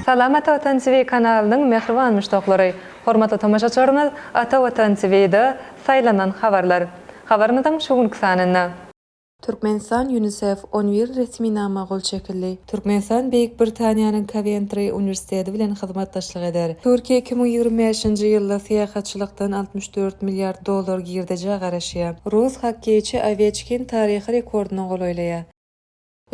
Salam Ata Watan TV kanalynyň mähriban muşdaklary! Hormatly tomaşaçylarymyz Ata Watan TV-da Saýlanan habarlar habarymyzyň şu günki sanynda. Türkmenistan, Ýunisef, on bir resminama gol çekildi. Türkmenistan Beýik Britaniýanyň Kowentri uniwersiteti bilen hyzmatdaşlyk eder. Türkiýe iki müň ýigrimi bäşinji ýylda syýahatçylykdan altmyş dört milliard dollar girdejä garaşýar. Rus hokkeýçi Oweçkin taryhy rekordyna golaýlaýar.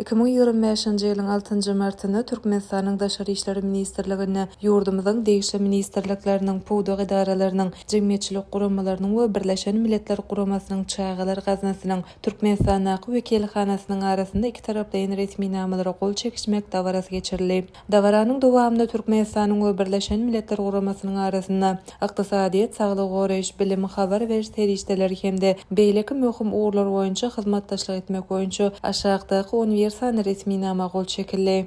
Iki müň ýigrimi bäşinji ýylyň altynjy martynda Türkmenistanyň Daşary işler ministrliginde ýurdumyzyň degişli ministrlikleriniň, pudak edaralarynyň, jemgyýetçilik guramalarynyň we Birleşen Milletler Guramasynyň Çagalar gaznasynyň Türkmenistandaky wekilhanasynyň arasynda ikitaraplaýyn resminamalara gol çekişmek dabarasy geçirildi. Dabaranyň dowamynda Türkmenistanyň we Birleşen Milletler Guramasynyň arasynda ykdysadyýet, saglygy goraýyş, bilim, habar beriş serişdeleri hem-de beýleki möhüm ugurlar boýunça hyzmatdaşlyk etmek boýunça aşakdaky uniwersan resminama gol çekildi.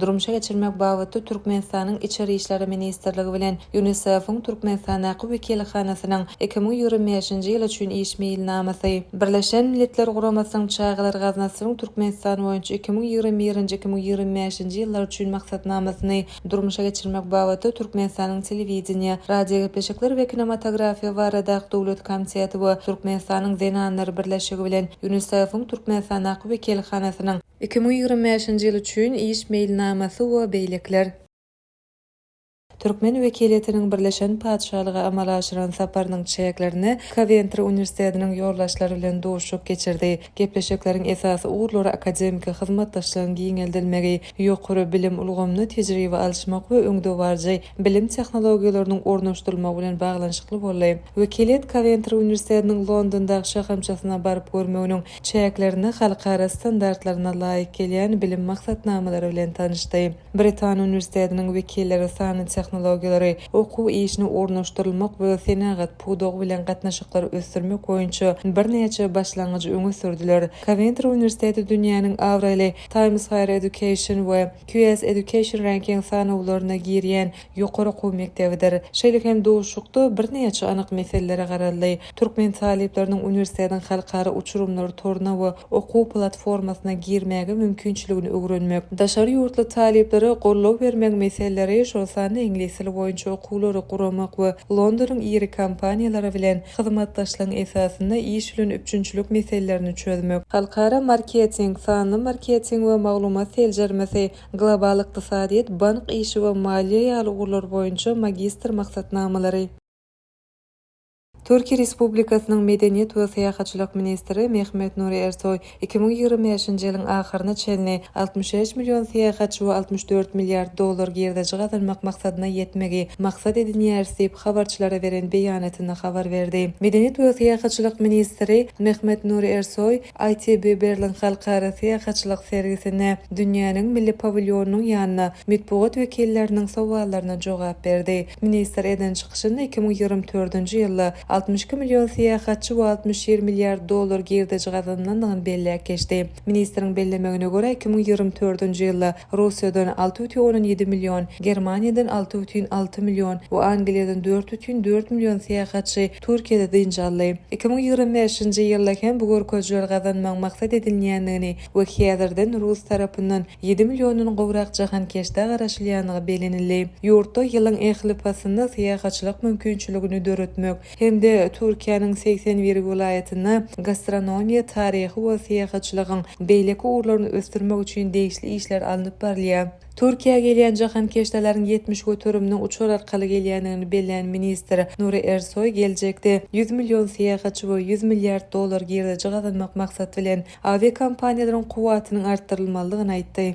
durmuşa geçirmek babatda Türkmenistanyň Içeri işler ministrligi bilen Ýunisef-iň Türkmenistandaky wekilhanasynyň iki müň ýigrimi bäşinji ýyl üçin iş meýilnamasy, Birleşen Milletler Guramasynyň Çagalar gaznasynyň Türkmenistan boýunça iki müň ýigrimi birinji-iki müň ýigrimi bäşinji ýyllar üçin maksatnamasyny durmuşa geçirmek babatda Türkmenistanyň Telewideniýe, radiogepleşikler we kinematografiýa baradaky döwlet komiteti we Türkmenistanyň Zenanlar birleşigi bilen Ýunisef-iň Türkmenistandaky wekilhanasynyň Iki müň ýigrimi bäşinji ýyl üçin iş meýilnamasy we beýlekiler. Türkmen wekiliýetiniň Birleşen Patyşalyga amala aşyran saparynyň çäklerinde Kowentri uniwersitetiniň ýoldaşlary bilen duşuşyk geçirdi. Gepleşikleriň esasy ugurlary akademiki hyzmatdaşlygyň giňeldilmegi, ýokary bilim ulgamynda tejribe alyşmak we öňdebaryjy bilim tehnologiýalarynyň ornaşdyrylmagy bilen baglanyşykly boldy. Wekiliýet Kowentri uniwersitetiniň Londondaky şahamçasyna baryp görmeginiň çäklerinde halkara standartlaryna laýyk gelýän bilim maksatnamalary bilen tanyşdy. Britan uniwersitetiniň wekilleri sanly tehnologiýalary, okuw işine ornaşdyrylmak we senagat pudagy bilen gatnaşyklary ösdürmek boýunça birnäçe başlangyjy öňe sürdüler. Kowentri uniwersiteti dünýäniň abraýly Times Higher Education we QS Education Ranking sanawlaryna girýän ýokary okuw mekdebidir. Şeýle hem duşuşykda birnäçe anyk meselelere garaldy. Türkmen talyplarynyň uniwersitetiň halkara uçurymlar toruna we okuw platformasyna girmäge mümkinçiligini öwrenmek, daşary ýurtly talyplara goldaw bermegiň meseleleri, şol sanda iňlis dili boýunça okuwlary guramak we Londonyň iri kompaniýalary bilen hyzmatdaşlygyň esasynda iş bilen üpjünçilik meselelerini çözmek, halkara marketing, sanly marketing we maglumat seljermesi, Global ykdysadyýet, bank işi we maliýe ýaly ugurlar boýunça magistr maksatnamalary. Türkiýe Respublikasynyň Medeniýet we syýahatçylyk ministri Mehmet Nuri Ersoý iki müň ýigrimi bäşinji ýylyň ahyryna çenli altmyş bäş million syýahatçy we altmyş dört milliard dollar girdeji gazanmak maksadyna ýetmegi maksat edinýäris diýip, habarçylara beren beýanatynda habar berdi. Medeniýet we syýahatçylyk ministri Mehmet Nuri Ersoý, ITB Berlin halkara syýahatçylyk sergisinde dünýäniň milli pawilýonynyň ýanynda metbugat wekilleriniň sowallaryna jogap berdi. Ministr eden çykyşynda iki müň ýigrimi dördünji ýylda altmyş iki million syýahatçy we altmyş ýedi milliard dollar girdeji gazanlandygyny belläp geçdi. Ministriň bellemegine görä, iki müň ýigrimi dördünji ýylda Russiýadan alty bütin ondan ýedi million, Germaniýadan alty bütin alty million we Angliýadan dört bütin dört million syýahatçy Türkiýede dynç aldy. Iki müň ýigrimi bäşinji ýylda hem bu görkezijileri gazanmagyň maksat edinilýändigini we häzirden rus tarapyndan ýedi milliondan gowrak jahankeşdä garaşylýandygy bellenildi. Ýurtda ýylyň ähli paslynda syýahatçylyk mümkinçiligini döretmek hem-de Türkiýäniň segsen bir welaýatynda gastronomiýa, taryhy we syýahatçylygyň beýleki ugurlaryny ösdürmek üçin degişli işler alnyp barylýar. Türkiýä gelýän jahankeşdalaryň ýetmiş göteriminiň uçar arkaly gelýändigini bellän ministr Nury Ersoý geljekde ýüz million syýahatçy we ýüz milliard dollar girdeji gazanmak maksat bilen awiakompaniýalaryň kuwwatynyň artdyrylmalydygyny aýtdy.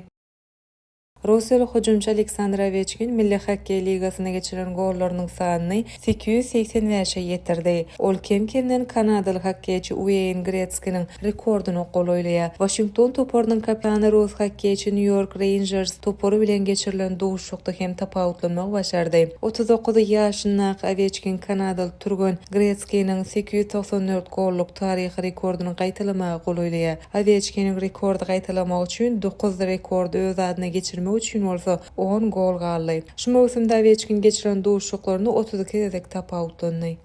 Russiýaly hüjümçi Aleksandr Oweçkin Milli hokkeý ligasynda geçirilen gollarynyň sanyny sekiz ýüz segsen bäşe ýetirdi. Ol kem-kemden kanadaly hokkeýçi Ueýn Gretskiniň rekordyna golaýlaýar. Waşington toparynyň kapitany rus hokkeýçi Nýu-Ýork Reýnjers topary bilen geçirilen duşuşykda hem tapawutlanmagy başardy. Otuz dokuz ýaşyndaky Oweçkin kanadaly türgen Gretskiniň sekiz ýüz togsan dört gollyk taryhy rekordyny gaýtalamaga golaýlaýar. Oweçkiniň rekordy gaýtalamak üçin dokuz, rekordy öz adyna geçirmek üçin bolsa on gol galdy. Şu möwsümde Oweçkin geçiren duşuşyklarynda otuz iki gezek tapawutlandy.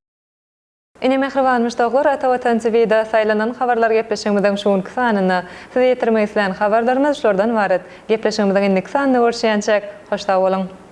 Ine mähriban muşdaklar Ata Watan TVda saýlanan habarlar gepleşigimiziň şu günki sanynda. Size ýetirmek islän habarlarymyz şulardan ybarat. Gepleşigimiziň indiki sanynda görüşýänçäk, hoş sag boluň!